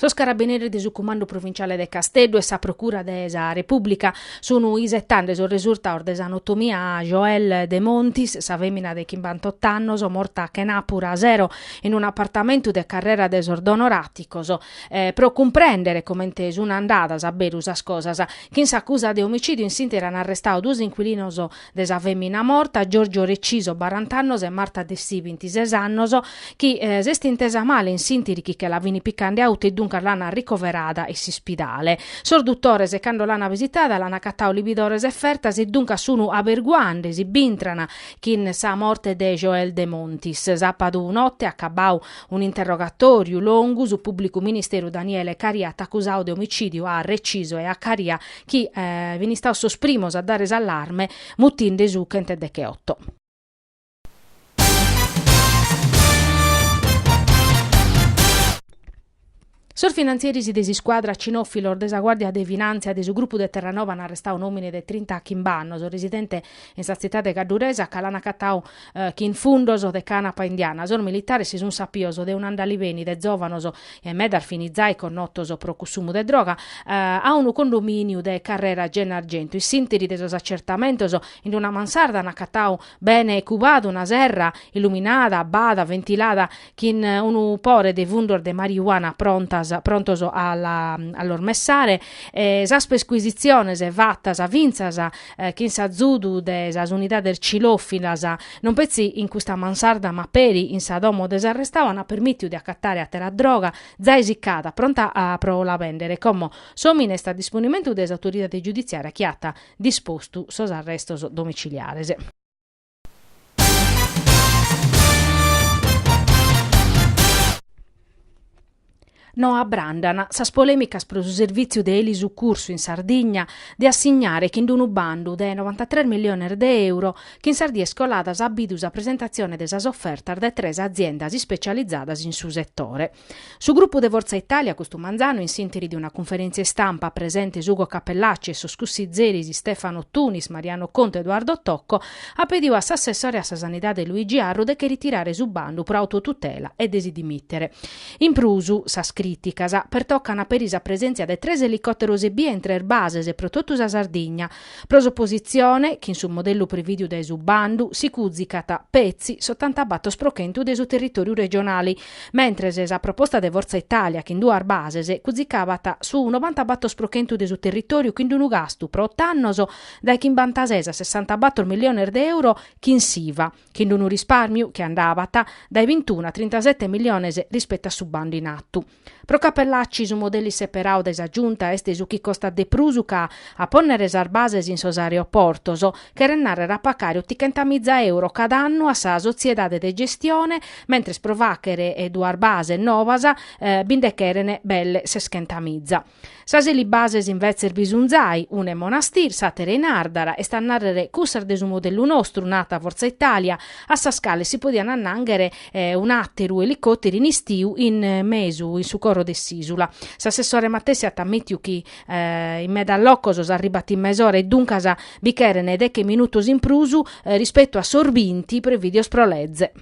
Sos carabineris de su Cumandu Provinciale de Casteddu e sa Procura de sa Repùblica sun isetande sos resurtados de s'anotomia a Joelle Demontis, sa fèmina de chimbantotto annos morta chenàpura sero in un'apartamentu de Carrera de sos Donoraticos, pro cumprèndere comente sun andadas a beru sas cosas. Chin s'acusa de omicìdiu in s'ìnteri an arrestadu duos incuilinos de sa fèmina morta, Giorgio Reciso, barant'annos, e Marta Dessì, vintises annos, chi s'est intesa male in s'ìntiri chi che la fini picande a Uta e duncas l'ana arricoverada in s'ispidale. Sos dutores cando l'ana visitada l'ana acatau libidores e fertas e duncas sunu aberguande si b'intran chin sa morte de Joelle Demontis. Sapadu notte acabau un'interrogatoriu longu su publicu ministeru Daniele Caria at accusau de omicidiu a Reciso e a Caria chi fin istados sos primos a dare s'allarme mutinde su chent'e decheotto. Sos finantzieris de s'iscuadra Cinofilos de sa Guàrdia de Finàntzia de su grupu de Terranova an arrestadu un'òmine de trintachimbe annos, residente in sa tzitade cadduresa, ca l'an acatadu chin fundos de canapa indiana sos militares si sun sapios de un'andaliveni de zovanos e medas fin zai connotos pro cussumu de droga a unu condominiu de Carrera Gennargentu in s'intiri de sos acertamentos in una mansarda an acatau bene cubadu una serra illuminada, abbada, ventilada chin unu pore de fundos de marijuana prontas prontos a la a los messare e sas percuisitziones fattas fintzas chin s'azudu de sas unidades cilofilas non petzi in custa mansarda ma peri in sa domo de s'arrestadu an permìtiu de acatare àtera droga zai siccada pronta a pro la bèndere como s'òmine est a disponimentu de s'autoridade giuditziària chi at dispostu sos arrestos domiciliares. No abràndan sas polèmicas pro su servìtziu de elisucursu in Sardigna de assignare chin unu bandu de novantatres miliones de euro chi in sas dies coladas at bidu sa presentatzione de sas ofertas de tres aziendas ispetzializadas in su setore. Su grupu de Forza Italia custu manzanu in s'interi de una cunferèntzia istampa, presentes Ugo Cappellacci e sos cussizeris Stefano Tunis, Mariano Contu e Edoardo Tocco, at pediu a s'assessore a sa Sanidade Luigi Arru de che ritirare su bandu pro autotutela e de si dimìtere. In prus, sas crìticas pertocan peri sa presèntzia de tres elicòteros ebbia in tres bases pro totu sa Sardigna. Pro s'opositzione, chin su modellu prevìdiu dae su bandu, si cùzicat, petzi, s'otantabatos pro chentu de su territòriu regionale, Mentres sa proposta de Fortza Italia chin duas bases cuzicaban su nobanta-batos pro chentu de su territòriu chin unu gastu pro ot'annos dae chimbantases a sessantabatos milliones de euro chin s'Iva, chin unu rispàrmiu chi andabat dae bintunu a trintasete milliones rispetu a su bandu in atu. Pro Cappellacci su modeli seperadu dae sa Giunta est su chi costat de prus ca a pònnere sas bases in sos aeroportos, cheret nàrrere a pacare otichentamìza euro cada annu a sa sotziedade de gestione, mentres pro fàghere duas bases nobas bi nde cheren belle seschentamìza. Sas elibases invetzes bi sun zai, una in Monastir, s'àtera in Àrdara, est a nàrrere cussas de su modellu nostru, narat Forza Italia, a sas cales si podiat annànghere un'àteru elicòteru in istiu in mesu, in su coro de s'ìsula. S'assessore matessi at ammìtiu chi In medas locos s'arribat in mesora e duncas bi cheren deche minutos in prus rispetu a sos binti prevìdios pro leze.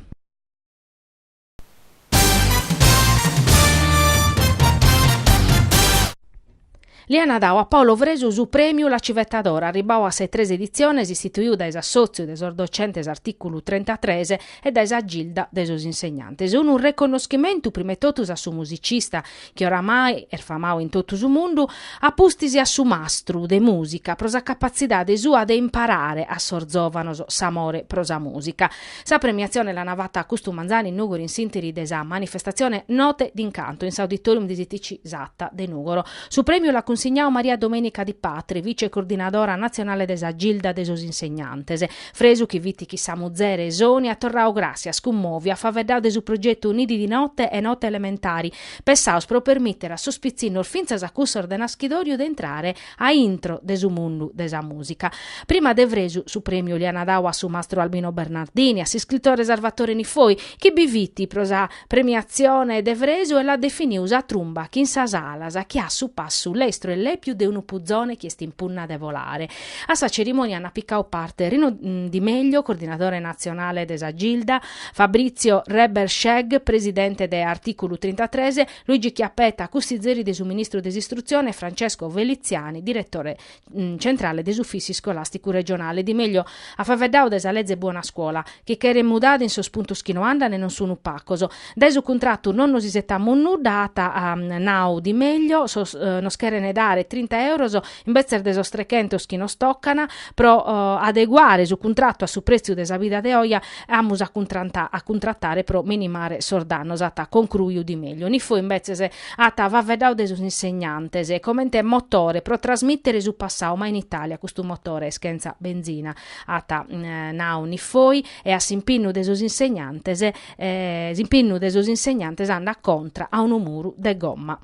Li an dadu a Paolo Fresu su Prèmiu La Civetta d'Oro, arribadu a sas tres editziones, istituidu dae s'assòtziu de sos docentes artìculu trentatres e dae sa Gilda de sos insegnantes. Unu reconnoschimentu prima 'e totus a su musicista chi oramai est famau in totu su mundu, a pustis a su mastru de mùsica pro sa capatzidade sua de imparare a sos zòvanos s'amore pro sa mùsica. Sa premiatzione l'ana fata custu manzanu in Nùgoro in s'interi de sa manifestatzione Note d'incanto in s'Auditorium de s'ITC Sata de Nùgoro. Su prèmiu l'at cunsignau Maria Domenica Di Patre, vice-coordinadora natzionale de sa Gilda de sos Insegnantes, Fresu chi fit chin sa muzere Sonia at torradu gràssias cummòviu at faveddadu de su progetu Nidi di note e Note elementari, pensaos pro permìtere a sos pitzinnos fintzas a cussos de naschidòriu de intrare a intro de su mundu de sa mùsica. Prima de Fresu su prèmiu l'aian dau a su mastru Albino Bernardini, a s'iscritore Sarvatore Niffoi, chi bi fit pro sa Premiatzione de Fresu e l'at definiu sa trumba chin sas alas chi at su passu lestru e lèpiu de unu puzone chi est in punna de volare. A sa cerimònia ant picau parte Rino Di Meglio, coordinadore natzionale de sa Gilda, Fabrizio Reberschegg, presidente de Articulu trintatres, Luigi Chiappetta, cussizeri de su ministru de s'Istrutzione e Francesco Feliziani, diretore centrale de s'Ufissi Iscolasticu Regionale, Di Meglio at faveddau de sa leze Buona Scuola, chi cheret mudada in sos puntos chi no andan e non sunu pacos. Dae su cuntratu non nos isetamus nudda, at nau Di Meglio, nos cheren dare trinta euros imbetzes de sos trechentos chi nos tocan, pro adeguare su cuntratu a su pretziu de sa vida de oje, amus a cuntratare pro minimare sos dannos, at concruiu Di Meglio. Niffoi imbetzes At faveddau de sos insegnantes comente motore pro trasmìtere su passau, ma in Itàlia custu motore est chentza benzina, at nau Niffoi, e a s'impinnu de sos insegnantes, s'impinnu de sos insegnantes andat contra a unu muru de gomma.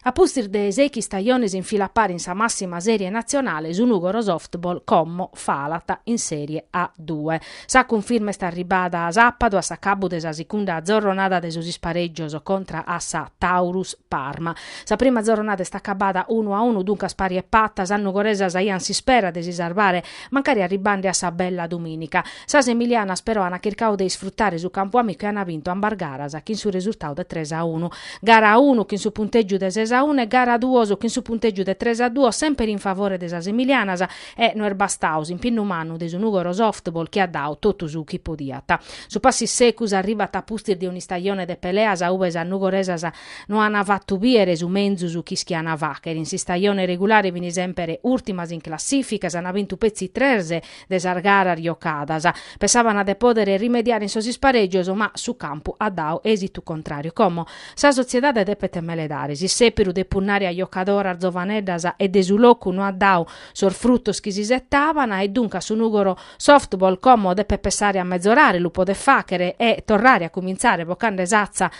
A pustis de sèichi istajones in fila pari in sa màssima sèrie natzionale, su Nùgoro Softball como falat in Sèrie A Due. Sa cunfirma est arribada sàpadu a s'acabbu de sa sicunda zorronada de sos isparègios contra a sa Taurus Parma. Sa prima zorronada est acabada unu a unu duncas pari e pata, sas nugoresas aiant s'ispera de si sarvare Mancari arribbande a sa bella domìnica, sas emilianas però ant chircau de isfrutare su campu amicu e ant bintu ambas garas chin su resurtau de tres a unu. Gara unu chin su puntègiu de ses a unu e gara duos chin su puntègiu de tres a duos semper in favore de sas emilianas e no est bastau s'impinnu mannu de su Nùgoro Softball chi at dau totu su chi podiat. Su passu issecus arribat a pustis de un'istajone de peleas ube sas nugoresas No ana fattu biere su menzus chi ischiana fachere. In s'istajone regulare fini sempere urtimas in classifica, ana bintu petzi tres de sas garas jocadas. Pessabana de podere rimediare in sos ispareggios ma su campu at dau esitu contrariu. Como sa sotziedade depet meledare. S'isseperu de punnare a jocadoras zovaneddas e de su locu no at dau sos fruttos chi s'isettabana e duncas su Nugoro Softball como depet pessare a mezorare lu podet fachere e torrare a cuminzare bocande s'atza